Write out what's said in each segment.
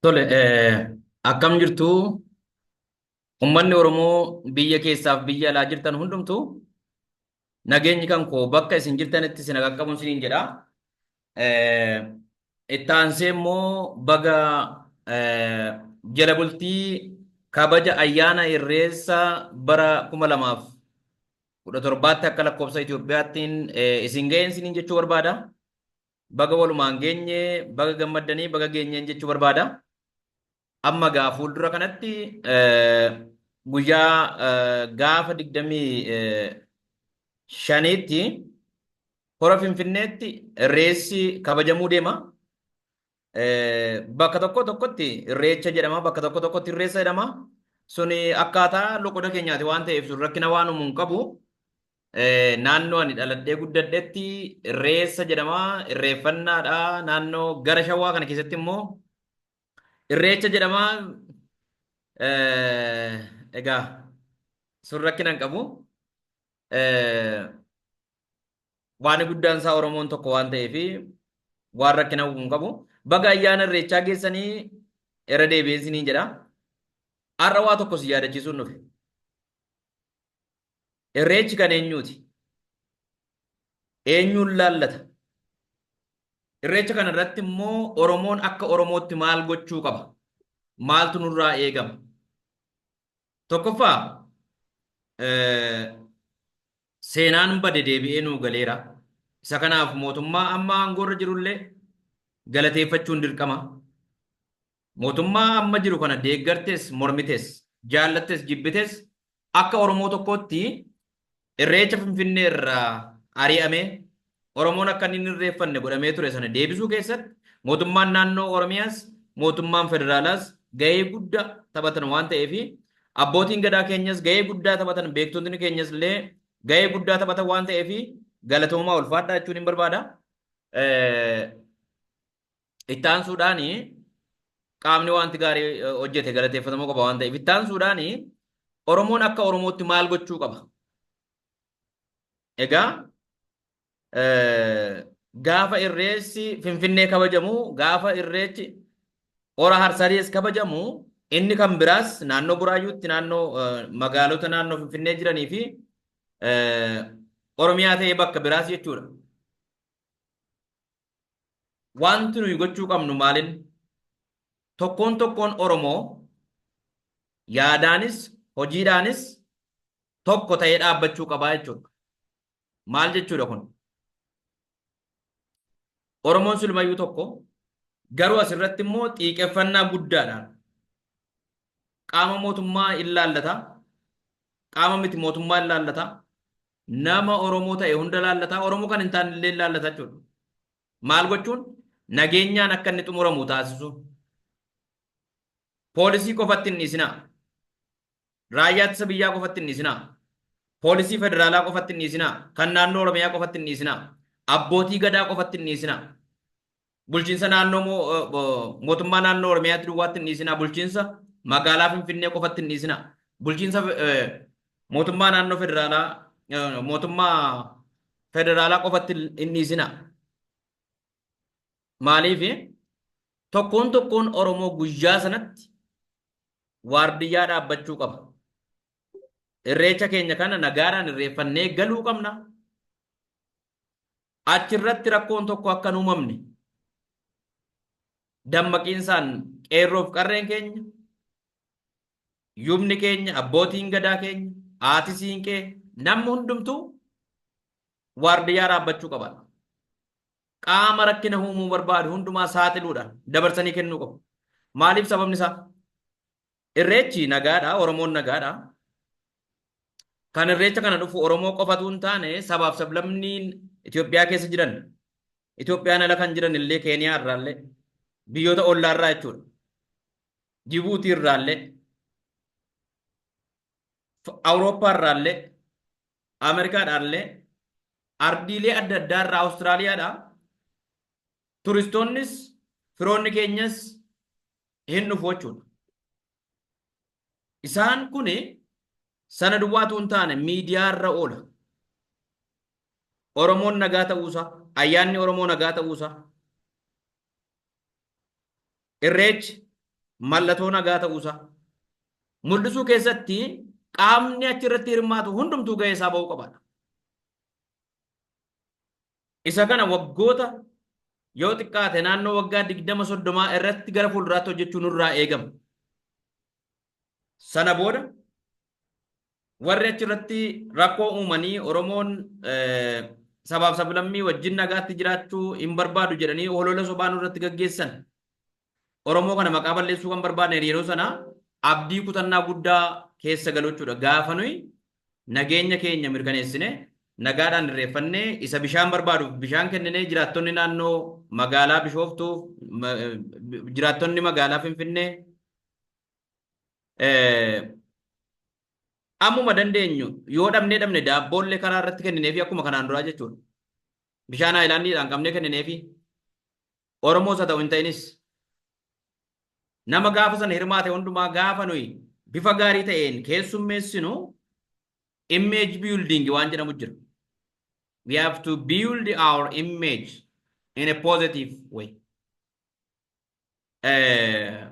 Tole, eh, akkam jirtu? Ummanni Oromoo biyya keessaaf biyya alaa jirtan hundumtuu nageenyi kan koo bakka isin jirtanitti isin qaqqabuun isiniin jedha. Itti aansee immoo baga jala bultii kabaja ayyaana irreessa bara 2017tti akka lakkoofsa Itoophiyaattiin isin ga'een isiniin jechuu barbaada. Baga walumaan geenye, baga gammaddanii, baga geenyeen jechuu barbaada. Amma egaa fuuldura kanatti guyyaa gaafa 25tti hora Finfinneetti irreessi kabajamuu deema. Bakka tokko tokkotti irreecha jedhama, bakka tokko tokkotti irreessa jedhama. Suni akkaataa loqoda keenyaati waan ta'eef sun rakkina waan uumuu hin qabu. Naannoo ani dhaladhee guddadhetti irreessa jedhama, irreeffannaadha. Naannoo gara shawaa kana keessatti immoo Irreecha jedhama. Egaa sun rakkina hin qabu. Waan guddaan isaa Oromoon tokko waan ta'eef waan rakkina uumuu hin qabu. Baga ayyaana irreechaa geessanii irra deebi'een siniin jedha. Har'a waa tokko si yaadachiisuun dhufe. Irreechi kan eenyuuti? Eenyuun laallata? Irreecha kana irratti immoo Oromoon akka Oromootti maal gochuu qaba? Maaltu nurraa eegama? Tokkoffaa seenaan bade deebi'ee nuu galeera. Isa kanaaf mootummaa amma aangoorra jirullee galateeffachuun dirqama. Mootummaa amma jiru kana deeggartes mormites, jaallattes jibbites akka Oromoo tokkootti Irreecha Finfinnee irraa ari'amee Oromoon akka inni hin irreeffanne godhamee ture sana deebisuu keessatti mootummaan naannoo Oromiyaas mootummaan federaalaas gahee guddaa taphatan waan ta'eef abbootiin gadaa keenyas gahee guddaa taphatan beektotni keenyas illee gahee guddaa taphatan waan ta'eef galatoomaa ulfaadhaa jechuun hin barbaada. Itti aansuudhaan qaamni wanti gaarii eh, hojjete galateeffatamuu qaba waan ta'eef itti aansuudhaan Oromoon akka Oromootti maal gochuu qaba? Egaa eh, gaafa irreessi Finfinnee kabajamu gaafa irreechi Hora Harsadiis kabajamu inni kan biraas naannoo Buraayyuutti naannoo eh, magaalota naannoo Finfinnee jiranii fi eh, Oromiyaa ta'ee bakka biraas jechuudha. Waanti nuyi gochuu qabnu maalin? Tokkoon tokkoon Oromoo yaadaanis hojiidhaanis tokko ta'ee dhaabbachuu qabaa jechuudha. Maal jechuudha kun? Oromoon silmayyuu tokko garuu asirratti immoo xiiqeffannaa guddaadhaan qaama mootummaa in laallata, qaama miti mootummaa in laallata, Nama Oromoo ta'e hunda laallata, Oromoo kan hin taane illee hin laallata jechuudha. Maal gochuun? Nageenyaan akka inni xumuramu taasisuu. Poolisii qofatti hin dhiisinaa. Raayyaa ittisa biyyaa qofatti hin dhiisinaa. Poolisii federaalaa qofatti hin dhiisinaa. Kan naannoo Oromiyaa qofatti hin dhiisinaa. Abbootii gadaa qofatti hin dhiisinaa. Bulchiinsa naannoo moo mootummaa naannoo Oromiyaatti duwwaatti hin dhiisinaa. Bulchiinsa magaalaa Finfinnee qofatti hin dhiisinaa. Bulchiinsa mootummaa naannoo federaalaa mootummaa federaalaa qofatti hin dhiisinaa. Maaliif tokkoon tokkoon Oromoo guyyaa sanatti waardiyyaa dhaabbachuu qaba. Irreecha keenya kana nagaadhaan irreeffannee galuu qabna. Achi irratti rakkoon tokko akka hin uumamne dammaqiinsaan qeerroof qarreen keenya, yubni keenya, abbootiin gadaa keenya, haati siinqee namni hundumtuu waardiyyaa dhaabbachuu qaba. Qaama rakkina uumuu barbaadu hundumaa saaxiluudhaan dabarsanii kennuu qabu. Maaliif sababni isaa? Irreechi nagaadha, Oromoon nagaadha. Kan irreecha kana dhufu Oromoo qofatu hin taane sabaaf sablammiin Itoophiyaa keessa jiran Itoophiyaan ala kan jiran illee Keeniyaa irraallee biyyoota ollaa irraa jechuudha. Jibuutii irraallee Awurooppaa irraallee Ameerikaadhaallee ardiilee adda addaa irraa Awustiraaliyaadhaa turistoonnis firoonni keenyas hin dhufu jechuudha. Isaan kun sana duwwaatu hin taane miidiyaa irra oola. Oromoon nagaa ta'uusaa, ayyaanni Oromoo nagaa ta'uusaa, irreechi mallattoo nagaa ta'uusaa mul'isuu keessatti qaamni achirratti hirmaatu hundumtuu gahee isaa ba'uu qabaadha. Isa kana waggoota yoo xiqqaate naannoo waggaa 20-30 irratti gara fuulduraatti hojjechuu nurraa eegama. Sana booda warri achirratti rakkoo uumanii Oromoon sabaaf sablammii wajjin nagaatti jiraachuu hin barbaadu jedhanii holola sobaa nurratti gaggeessan Oromoo kana maqaa balleessuu kan barbaadne yeroo sana abdii kutannaa guddaa keessa galuu jechuudha. Gaafa nuyi nageenya keenya mirkaneessine nagaadhaan irreeffannee isa bishaan barbaaduuf bishaan kenninee jiraattonni naannoo magaalaa Bishooftuuf ma- eh, jiraattonni magaalaa Finfinnee eh, ammuma dandeenyu yoo dhabnee dhabne daabboollee karaa irratti kennineefi akkuma kanaan duraa jechuudha. Bishaan haayilaandiidhaan qabnee kennineefi Oromoos haa ta'u hin ta'inis nama gaafa sana hirmaate hundumaa gaafa nuyi bifa gaarii ta'een keessummeessinu image building waan jedhamu jira. We have to build our image in a positive way. Eh,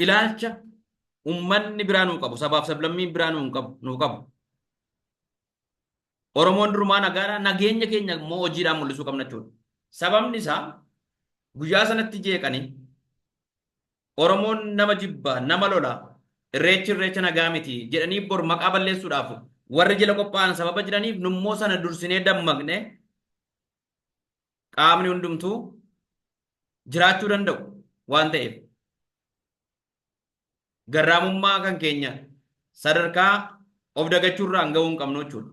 Ilaalcha ummanni biraa nuu qabu, sabaaf sablammiin biraa nuu hin qabu, nuu qabu. Oromoon durumaa nagaadha. Nageenya keenya immoo hojiidhaan mul'isuu qabna jechuudha. Sababni isaa guyyaa sanatti jeeqanii Oromoon nama jibba, nama lola, irreechi irreecha nagaa miti jedhanii bor maqaa balleessuudhaaf warri jila qophaa'an sababa jiraniif nummoo sana dursinee dammaqne qaamni hundumtuu jiraachuu danda'u waan ta'eef. garraamummaa kan keenya sadarkaa of dagachuu irraan ga'uu hin qabnu jechuudha.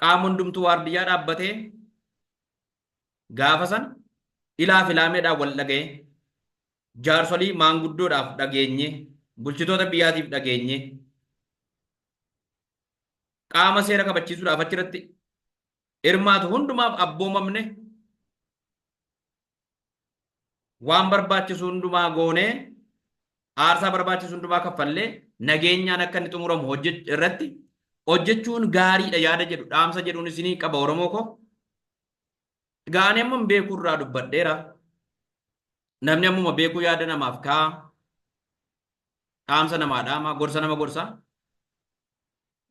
Qaama hundumtuu waardiyyaa dhaabbatee gaafa san ilaa filaameedhaan wal dhaga'ee jaarsolii maanguddoodhaaf dhageenye bulchitoota biyyaatiif dhageenye qaama seera kabachiisuudhaaf achirratti hirmaatu hundumaaf abboomamne waan barbaachisu hundumaa goonee aarsaa barbaachisu hundumaa kaffallee nageenyaan akka inni xumuramu hojjech- irratti hojjechuun gaariidha yaada jedhu dhaamsa jedhuun isinii qaba Oromoo koo. Egaa ani amma beekuu irraa dubbadheera. Namni ammuma beekuu yaada namaaf kaa'a. Dhaamsa namaa dhaama, gorsa nama gorsa.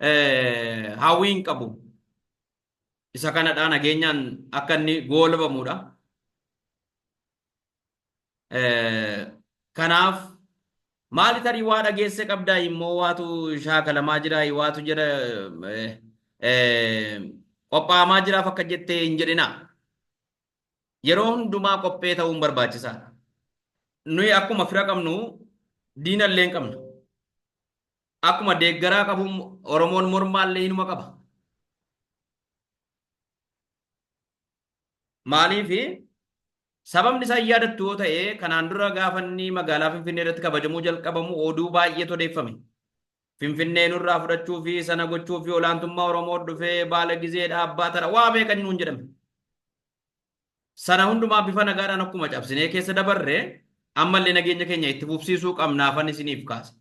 Eh, Hawwii hin qabu. isa kanadha nageenyaan akka inni goolabamudha. Kanaaf maali tarii waa dhageesse qabdaa immoo waatu shaakalamaa jira waatu jedha qophaa'amaa jiraaf akka jettee hin jedhina. Yeroo hundumaa qophee ta'uun barbaachisaadha. Nuyi akkuma fira qabnu diinallee hin qabnu. Akkuma deeggaraa qabu Oromoon mormaallee hinuma qaba. Maaliif sababni isaa hin yaadattu yoo ta'e kanaan dura gaafa inni magaalaa Finfinnee irratti kabajamuu jalqabamu oduu baay'eetu odeeffame. Finfinnee nurraa fudhachuu fi sana gochuu fi olaantummaa Oromoo dhufee baala gizeedha abbaa tara waa meeqa nuun jedhame. Sana hundumaa bifa nagaadhaan akkuma cabsinee keessa dabarre ammallee nageenya keenya itti fufsiisuu qabnaafan isiniif kaase.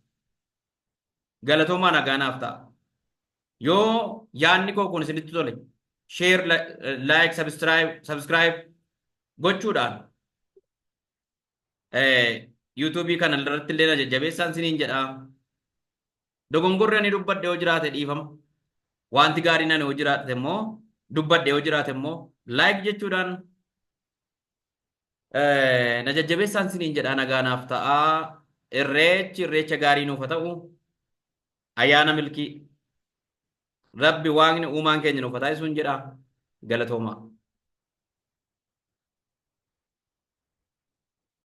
Galatoomaa nagaa naaf ta'a. Yoo yaadni koo kun isinitti tole share like subscribe subscribe gochuudhaan yuutuubii kana irratti illee na jajjabeessaan siniin jedha. Dogongorri ani dubbadhe yoo jiraate dhiifama. Wanti gaariin ani yoo jiraate immoo dubbadhe yoo jiraate immoo laayik jechuudhaan na jajjabeessaan siniin jedha nagaa naaf ta'a. Irreechi irreecha gaarii nuuf haa ta'u. Ayyaana milkii. Rabbi waaqni uumaan keenya nuuf haa taasisuun jedha galatoomaa.